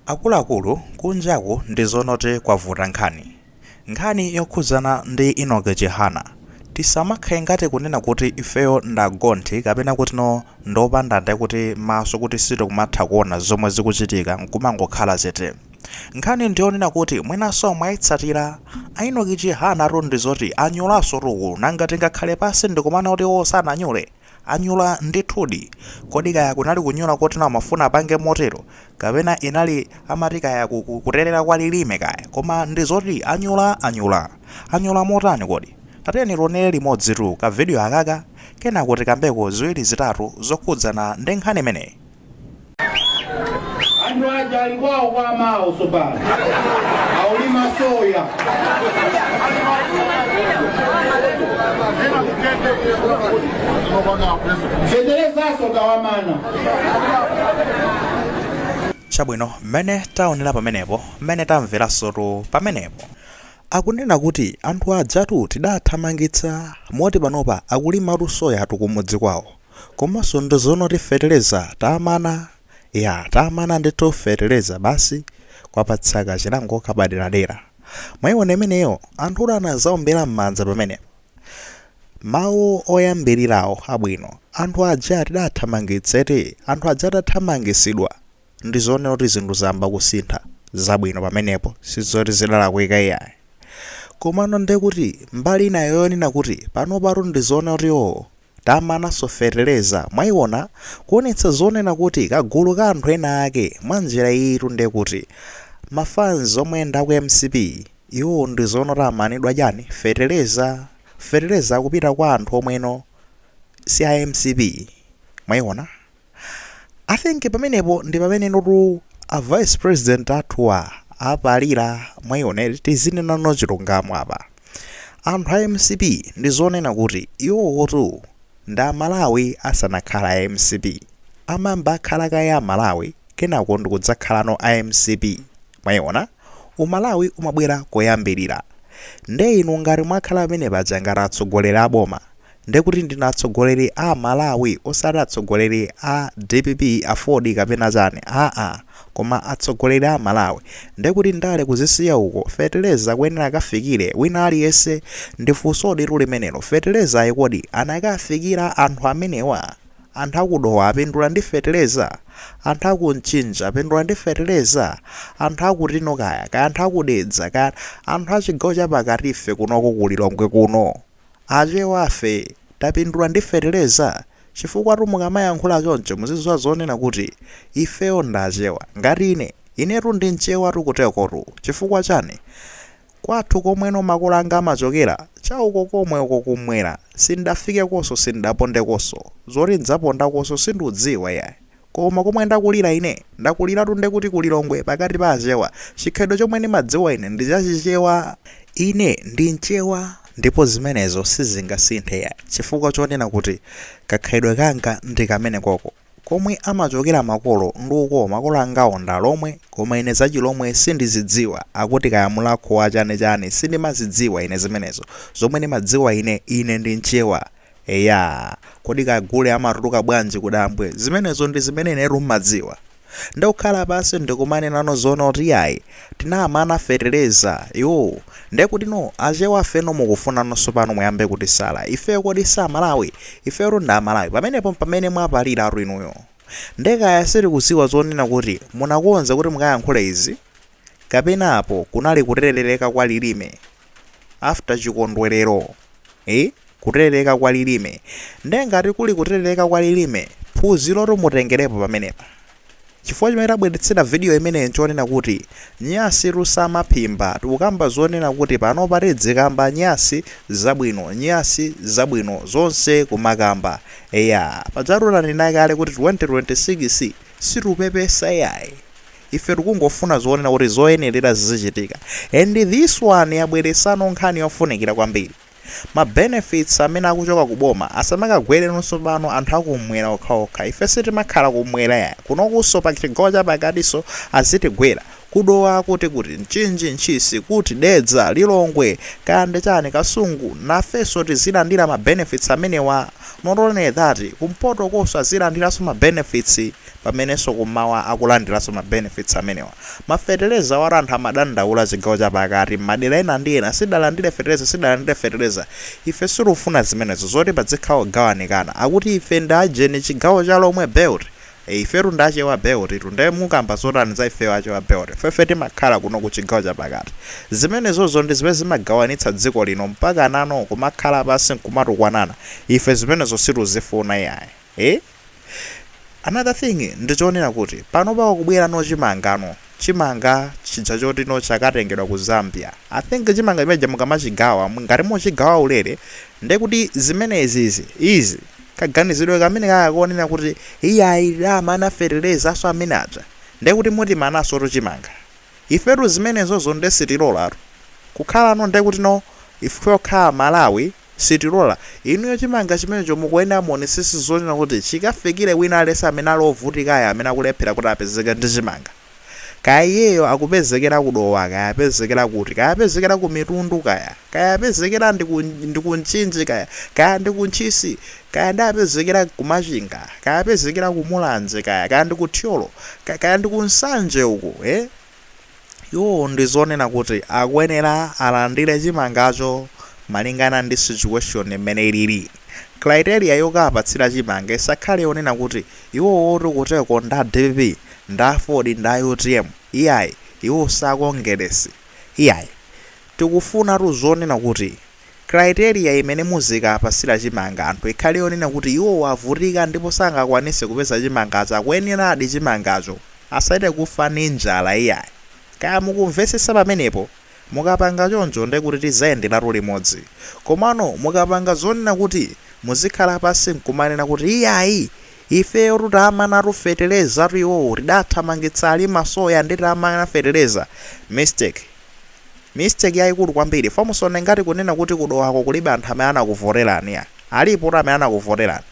Akuluakulu kunjaku ndi zonoti kwavuta nkhani. Nkhani yokhudzana ndi Enoch Chihana. Tisamakhale ngati kunena kuti ifeyo ndi agonthi kapena kutino ndi opanda nde kuti maso kuti sitikumatha kuona zomwe zikuchitika nkumangokhala chete. Nkhani ndi yonena kuti mwinanso mwaitsatira. A Enoch Chihanatu ndi zoti anyulansotu uku nanga tingakhale pansi ndikumaona kuti iwo sananyule? Anyula ndithudi. Kodi kaya kunali kunyula kuti nawo amafuna apange motero? Kapena inali amati kaya ku ku kuterera kwa lilime kaya? Koma ndi zoti anyula anyula. Anyula motani kodi? Tatiyeni tionere limodzitu ka video akaka kenako tikambeko ziwiri zitatu zokhudzana ndi nkhani imeneyi. anthu aja ali kwawo kwa amawo tsopano akulima soya feterezanso tawamana chabwino mmene taonera pamenepo mmene tamveransotu pamenepo akunena kuti anthu ajatu tidathamangitsa moti panopa akulimatu soya tu kumudzi kwawo komanso ndi zonoti feteleza tamana yaa tamana ndithu feteleza basi kwapatsa ka chilango kapaderadera mwaiona imeneyo anthutu anazaombera m'manja pamenepo mawu oyambilirawo abwino anthu aja tidathamangitsa eti anthu aja atathamangisidwa ndizonena kuti zinthu zayamba kusintha zabwino pamenepo sizoti zidalakwika iyayi komano ndekuti mbali inayo yonena kuti panopatu ndizonena kuti oo Tamananso feteleza, mwaiona? Kuonetsa zonena kuti kagulu ka anthu ena ake, mwanjira iyitu nde kuti ma fans omwe ndi aku mcp, iwowo ndi zonoti amanidwa chani? Feteleza? Feteleza akupita kwa anthu omweno si a mcp, mwaiona? I think pamenepo ndi pamenenotu a vice president athuwa apalira mwayiona eti tizinenano chilungamo apa anthu a mcp ndi zonena kuti iwowotu ndi amalawi asanakhala a mcp amayamba akhala kaye amalawi kenako ndikudzakhalano a mcp mwayiona umalawi umabwera koyambirira nde inu ngati mwakhala pamene paja ngati atsogoleri a boma ndekuti ndinu atsogoleri a malawi osati atsogoleri a dpp aford kapena chani aa koma atsogoleri a malawi ndekuti ndale kuzisiya uko feteleza akuyenera akafikire wina aliyense ndi funsoditu limenelo fetelezayi kodi anakafikira anthu amenewa anthu aku dowa apindula ndi feteleza anthu aku mchinji apindula ndi feteleza anthu akutino kaya kaya anthu aku dedza kaya anthu achigawo chapakatife kunoko ku lilongwe kuno Achewafe tapindula ndi fetereza? Chifukwatu mukamayankhula choncho muziziwa zoona kuti ifeyo ndi achewa. Ngati ine, inetu ndi mchewatu kutekotu. Chifukwa chani? Kwathu komweno makolo anga amachokera, cha uko komwe uko kummwera. Sindafikekonso, sindapondekonso. Zoti ndidzapondakonso sindiudziwa iyayi. Koma komwe ndakulira ine, ndakuliratu nde kuti ku Lilongwe pakati pa achewa, chikhalidwe chomwe ndimadziwa ine ndi cha chichewa. Ine ndi mchewa ndipo zimenezo sizingasinthe yayi chifukwa chonena kuti kakhalidwe kanga ndi kamenekoko. Komwe amachokera makolo ndi uko makolo angawo ndi alomwe koma ine za chilomwe sindizidziwa akuti kaya mulakho wa chani chani sindimazidziwa ine zimenezo. Zomwe ndimadziwa ine, ine ndi mchewa. Eya, kodi ka gule amatuluka bwanji kudambwe? Zimenezo ndi zimene inetu nimadziwa. Nde kukhala pansi ndikumanenano zoona kuti iyayi, tinamana fetereza, iwoo. Nde kutino, Achewa afeno mukufunano tsopano muyambe kutisala? Ifeyo kodi si Amalawi? Ifeyotu ndi Amalawi. Pamenepo mpamene mwapaliratu inuyo. Nde kaya sitikudziwa zonena kuti munakonza kuti mukayankhule izi? kapena apo kunali kuteleleka kwa lilime after chikondwelero eh kuteleleka kwa lilime nde ngati kuli kuteleleka kwa lilime phunzilotu mutengelepo pamenepa chifukwa chimene tabweletsera video imeneyi nchonena kuti nyasitu sumaphimba tikukamba zonena kuti panopa tidzikamba nyasi zabwino nyasi zabwino zonse kumakamba eya pajatu tanena kale kuti 2026 sitikupepesa yayi Ife tikungofuna zonena kuti zoyenerera zizichitika and this one yabweresano nkhani yofunikira kwambiri. Ma benefits amene akuchoka ku boma asamakagwereno tsopano anthu a kummwera okhaokha. Ife sitimakhala kummwera yayi. Kunokunso pa chigawo cha pakatinso azitigwera. Ku Dowa kuti kuti, Mchinji, Ntchisi, kuti, Dedza, Lilongwe, kaya ndi chani, Kasungu, nafenso tizilandira ma benefits amenewa. Not only that, kumpotokonso azilandiranso ma benefits. pamenenso kummawa akulandiranso ma benefits amenewa. Ma feteleza awatu anthu amadandaula chigawo cha pakati, mmadera ena ndi ena sitidalandire feteleza sitidalandire feteleza. Ife sitikufuna zimenezo zoti padzikhala kugawanikana. Akuti ife ndi ajeni chigawo cha lomwe belt. E, ifetu ndi achewa belt tu nde mukamba zotani za ifeyo achewa belt? Ifefe timakhala kuno ku chigawo cha pakati. Zimenezozo ndi zimene zimagawanitsa dziko lino mpakanano kumakhala pansi nkumatukwanana. Ife zimenezo situzifuna iyayi. ee another thing ndichonena kuti panopa pakubwela no chimanga no chimanga chija choti no chakatengedwa ku zambia i think chimanga chimeneja mukamachigawa ngati muchigawa ulele ndekuti zimenezizi izi kaganizidwe kamene kaka konena kuti iyayi tidamana feteleza so amene aja ndekuti mutimanaso to chimanga ifetu zimenezozo nde sitilolatu kukhala no ndekuti no ife tokha amalawi Sitilola. Inuyo chimanga chimenecho mukuyenera muonesese zoonena kuti chikafikire wina aliyense amene ali ovutikayo amene akulephera kuti apezeke ndi chimanga. Kaya iyeyo akupezekera ku Dowa kaya apezekera kuti, kaya apezekera ku Mitundu kaya, kaya apezekera ndi ku ndi ku Mchinji kaya, kaya ndi ku Ntchisi, kaya ndi apezekera ku Machinga, kaya apezekera ku Mulanje kaya, kaya ndi ku Thyolo, kaya, kaya ndi ku Nsanje uko, eh? Iwowo ndi zonena kuti akuyenera alandire chimangacho malingana ndi situation mmene ilili. Criteria yokapatsira chimanga isakhale yonena kuti iwowotu kuteko nda dpp, nda aford, nda utm. Iyayi, iwo sakongeresi. Iyayi. Tikufunatu zonena kuti Criteria imene muzikapasila chimanga anthu ikhale yonena kuti iwowo avutika ndipo sangakwanise kupeza chimangacho akuyeneradi chimangacho asachite kufa ndi njala iyayi. Kaya mukumvesesa pamenepo? Mukapanga choncho ndekuti tizayenderatu limodzi. Komano mukapanga zonena kuti muzikhala pasi nkumanena kuti iyayi ifeyotu tamanatu fetelezatu iwowo tidathamangitsa alima soya nde tamana feteleza. Mistake. mistake yaikulu kwambiri for musaone ngati kunena kuti kudowako kulibe anthu amene anakuvoterani ya alipotu amene anakuvoterani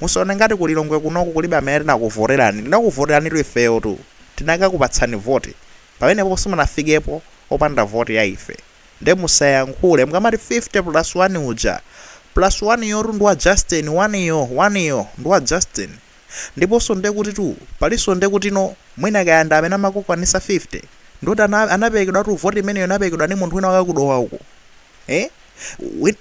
musaone ngati kulilongwe kunoku kulibe amene tinakuvoterani tinakuvoteranitu ifeyo tu tinakakupatsani voti pamenepo simunafikepo popanda voti ya ife nde musayankhule mukamati 50 plus 1 uja plus 1 yotu ndi wa justin 1 yo 1 yo ndi wa justin Ndiponso nde kuti tu palinso nde kuti no mwina kaya nda amene amakukwanisa 50 ndoti ana anaperekedwa tu voti imeneyo inaperekedwa ndi munthu wina wake ku Dowa uko eh win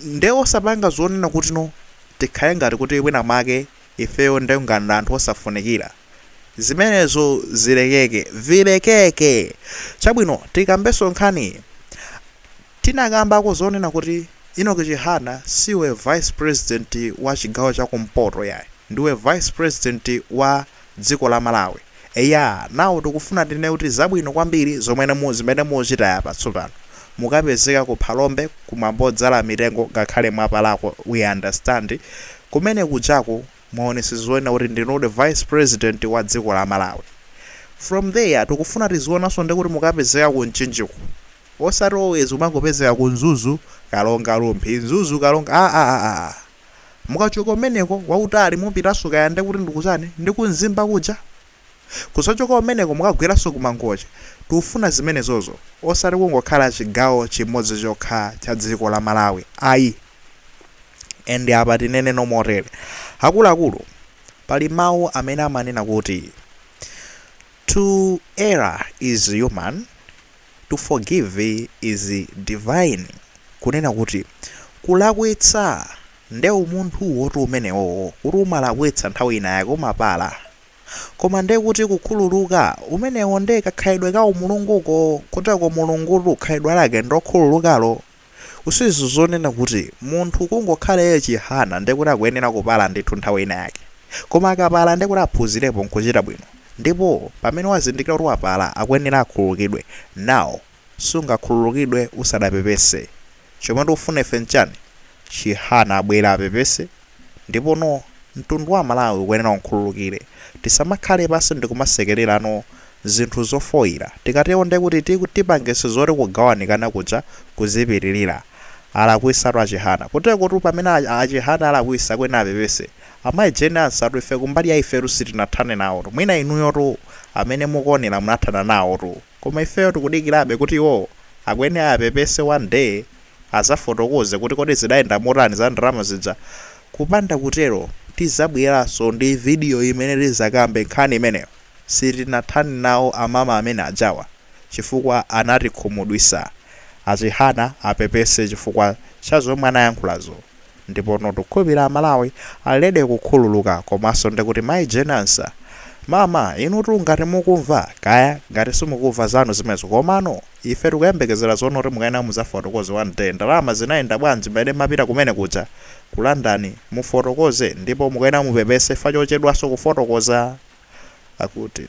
nde osapanga zonena kuti no tikhale ngati kuti wina mwake ifeyo nde ngati anthu osafunikira zimenezo zilekeke vilekeke chabwino tikambenso nkhani Tinakambako zoonena kuti Enoch Chihana siwe vice president wa chigawo cha kumpoto yayi, ndiwe vice president wa dziko la Malawi. Eya, now tikufuna tinene kuti zabwino kwambiri zomwe zimene mwachita apa tsopano. Mukapezeka ku Phalombe ku mwambo odzala mitengo ngakhale mwapalako we understand, kumene kujaku mwaonetsa zonena kuti ndinudi vice president wa dziko la Malawi. From there tikufuna tizionanso ndekuti mukapezeka ku Mchinjiko. Osati always kumangopezeka ku Mzuzu, Karonga, Rumphi, Mzuzu, Karonga aah mukachoka kumeneko akuti ali mupitanso kaya ndekuti ndikutani ndi ku Mzimba kuja? Kudzachoka kumeneko mukagweranso ku Mangochi. Tikufuna zimenezozo osati kungokhala chigawo chimodzi chokha cha dziko la Malawi ayi and apa tinene no motere akuluakulu pali mawu amene amanena kuti to err is human To forgive is divine kunena kuti kulakwitsa nde umunthuwotu umenewowo kuti umalakwitsa nthawi inayake umapala koma nde kuti kukhululuka umenewo nde kakhalidwe ka umulunguko kuteko mulungutu khalidwe lake ndokhululukalo Usizo zonena kuti munthu kungokhala iye chihana ndiye kuti akuyenera kupala ndithu nthawi ina yake. Koma akapala ndiye kuti aphunzirepo nkuchita bwino. Ndipo pamene wazindikira kuti wapala akuyenera akhululukidwe. Now sungakhululukidwe usadapepese. Chomwe tikufuna ife nchani? Chihana abwere apepese. Ndipono mtundu wa aMalawi ukuyenera ukhululukire. Tisamakhale pansi ndikumasekererano zinthu zofoira. Tikatero ndekuti tipangitsa zoti kugawanikana kuja kuzipitirira. Alakwisatu a Chihana. Kutekotu pamene a Chihana alakwisa akuyenera apepese. Amayi Jane Ansah tu ife kumbali ya ifetu sitinathane nawotu. Mwina inuyotu amene mukuonera munathana nawotu. Koma ifeyo tikudikirabe kuti iwowo akuyenera apepese one day. azafotokoze kuti kodi zidayenda motani za ndalama zija kupanda kutero tizabweranso ndi video imene tizakambe nkhani imeneyo sitinathane nawo amama amene ajawa chifukwa anatikhumudwisa a Chihana apepese chifukwa cha zomwe anayankhulazo Ndipono tikukhulupirira aMalawi ali ready kukhululuka komanso ndekuti mayi Jane Ansah mama inutu ngati mukumva kaya ngati simukumva zanu zimenezo komano ife tikuyembekezera zonena kuti mukuyenera muzafotokoze one day ndalama zinayenda bwanji mmene mmapita kumene kuja ku London mufotokoze ndipo mukuyenera mupepese chifukwa chochedwanso kufotokoza akuti